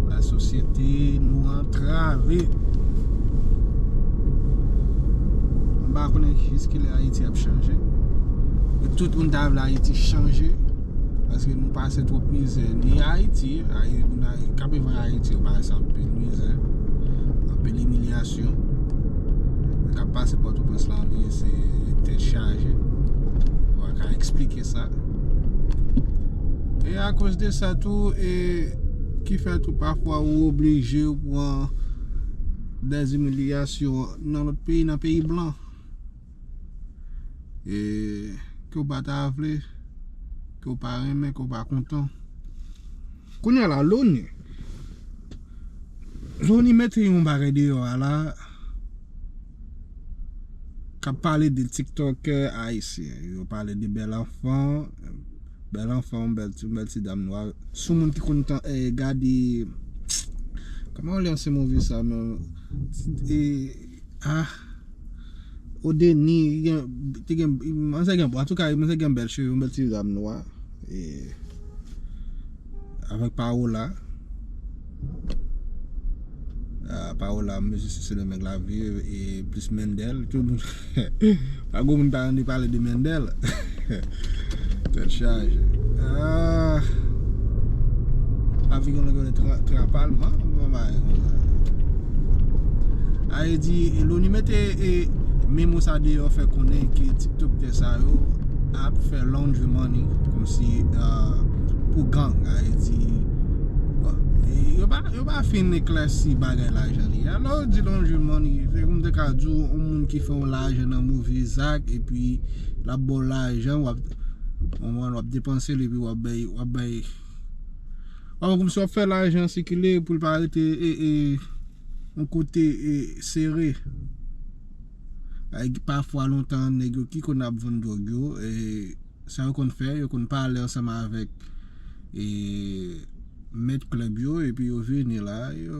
La sosyete nou antrave M pa konnen jiskilè Ayiti ap chanje E tout moun ta vle Ayiti chanje Paske nou pase twòp mizè Ni Ayiti Moun k ap viv an Ayiti yo pase anpil mizè Anpil imilyasyon Sitiyasyon k ap pase Pòtoprens la anpil se tèt chaje. Ou pa ka eksplike sa. E akoz de sa tou, e ki fè tou pafwa ou oblije ou pran dèzimilyasyon nan lòt peyi, nan peyi blan. e ke w pa ta vle, ke w pa renmen, ke w pa kontan. Kounye a la, loni, loni mete yon bagay deyò a la, ka pale de tiktokè ayisyen, yo pale de bèl anfan, bèl anfan, yon bèl ti dam nwa, sou moun ki konn tan e gade, kòman w lè se move sa menm, e. Ah Odeni gen te gen mwen se gen bon antouka mwen se gen bèl cheve yon bèl ti zam nwa e avèk Paola Paola mesye se sendomeng la viv e plis Mendel tout moun Pa gwo moun pa tande pale de Mendel Tèt chaje Aah Ap vin yon lòt bagay Tran palman Ae di Loni mete Memo sa deyò fè konnen ke Tiktoktè sa yo Ap fè laundry money Komsi Pou gang Ae di Yo pa fin eklèsi bagay lajan li Alò di laundry money Fè koum te ka di w Yon moun ki fè w lajan nan move zak epi lap baw lajan wap konprann wap depansel epi wap bay wap bay wap wè kòmsi wap fè lajan sikile poul pa rete yon kote sere ayy pafwa lontan nèg yo ki konn ap vann dwòg yo sa yo konn fè yo konn pale ansanm avèk mèt klèb yo epi yo vini la yo.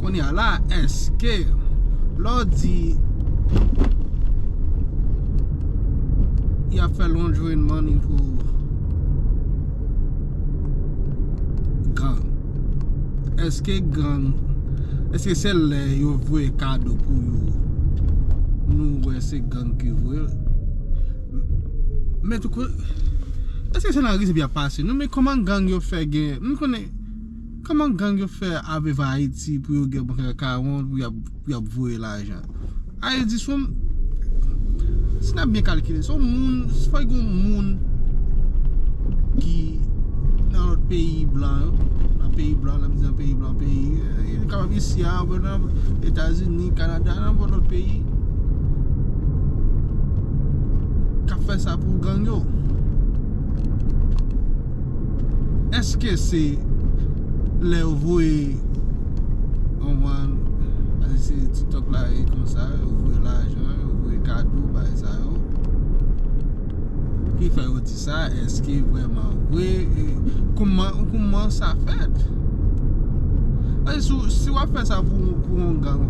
Kounye a la eske lè w di y ap fè lonjwen money pou gang eske gang eske se lè yo voye kado pou yo nou wè se gang ki voye l men tou eske se nan risk y ap pase nou men kòman gang yo fè gen nou konnen Kman gang yo fè aveva ayiti pou yo gen bank akawont pou yap voye lajan ayiti di son si nap byen kalkile son moun fòk gon moun ki nan lòt peyi blan yo nan peyi blan lèm di nan peyi blan peyi yo kapab isi a oubyen nan etazini kanada nan nenpòt lòt peyi kap fè sa pou gang yo. Eske se lè yo voye se tiktok la ye konsa yo voye lajan yo voye kado bay sa yo ki fè yo di sa eske vreman vre kouman sa fèt si wap fè sa pou yon gang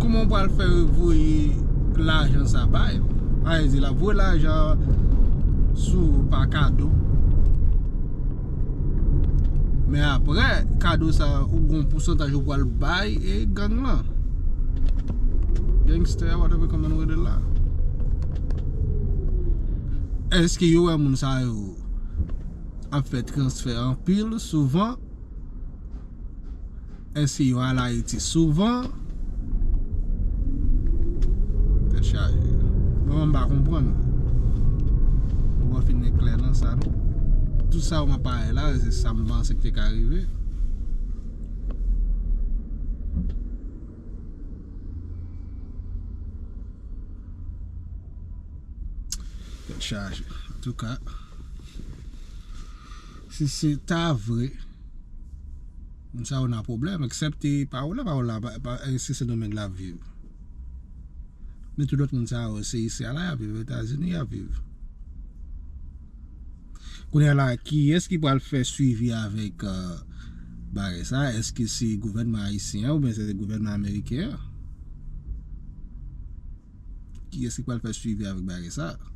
Kouman ou pral fè voye lajan sa ba yo? A vle di l ap voye lajan sou pa kado. Men aprè kado sa ou gon pousantaj ou pral bay e gang lan. Gangster whatever kòman nou rele l la. Eske yo wè moun sa yo ap fè transfè anpil souvan? Eske yo al Ayiti souvan? Tèt chaje. Mwen menm m pa konprann non. Mwen pa fin gen klè nan sa non. Tout sa ou m ap pale la se sa m panse ki te ka rive. Tèt chaje. An tou ka. Si se ta vre. Moun sa yo nan pwoblèm, eksepte Paola, Paola pa se Sendomeng lap viv. Men tout lòt moun sa yo se isi a la yap viv, Etazini yap viv. Kounye la, kiyès ki pral fè swivi avèk bagay sa, eske se gouvènman ayisyen an oubyen se gouvènman ameriken an? Kiyès ki pral fè swivi avèk bagay sa a?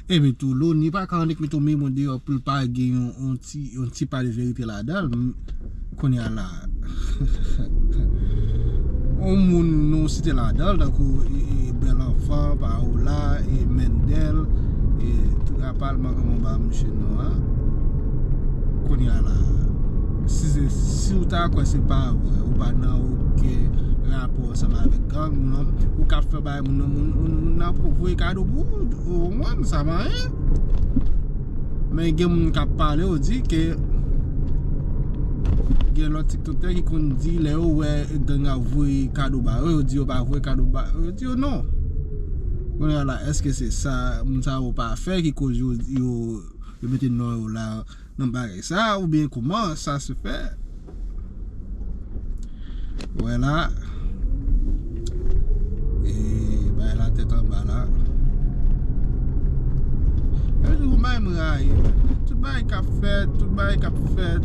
Epi tou, loni pa ka annik mete yon memo deyò pou l pa gen yon ti pa de verite ladan l. Kounye a la, yon moun nou site ladan l, tankou Bèl Anfan, Pawola, Mendèl, Palman koman ba misye non an Kounya la Si se si ou ta kwè se pa vre ou pa nan oken rapò ansanm avèk gang non ou kap fè bagay moun nan moun nan ap voye kado pou ou ou konprann sa pa anyen men gen moun kap pale yo di ke gen lòt tiktoktè ki konn di lè yo wè gang ap voye kado ba yo yo di yo pa voye kado ba yo. yo non Kounye a la eske se sa moun sa yo pa fè ki koz yo yo yo mete non yo la nan bagay sa oubyen kouman sa se fè Ou wè la E bagay la tèt anba la Yon jou m bay m rayi Tout bagay k ap fèt tout bagay k ap fèt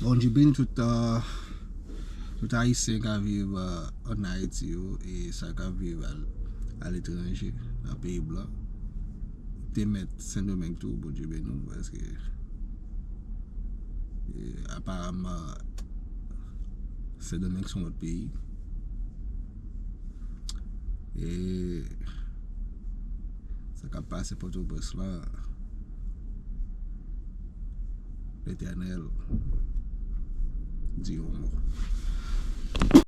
Bondye beni tout tout ayisyen kap viv an ayiti yo e sa kap viv a letranje nan peyi blan te mèt sendomeng tou bondye beni nou paske aparamman sendomeng son lòt peyi e sa kap pase potoprens lan Letènèl di yon mo.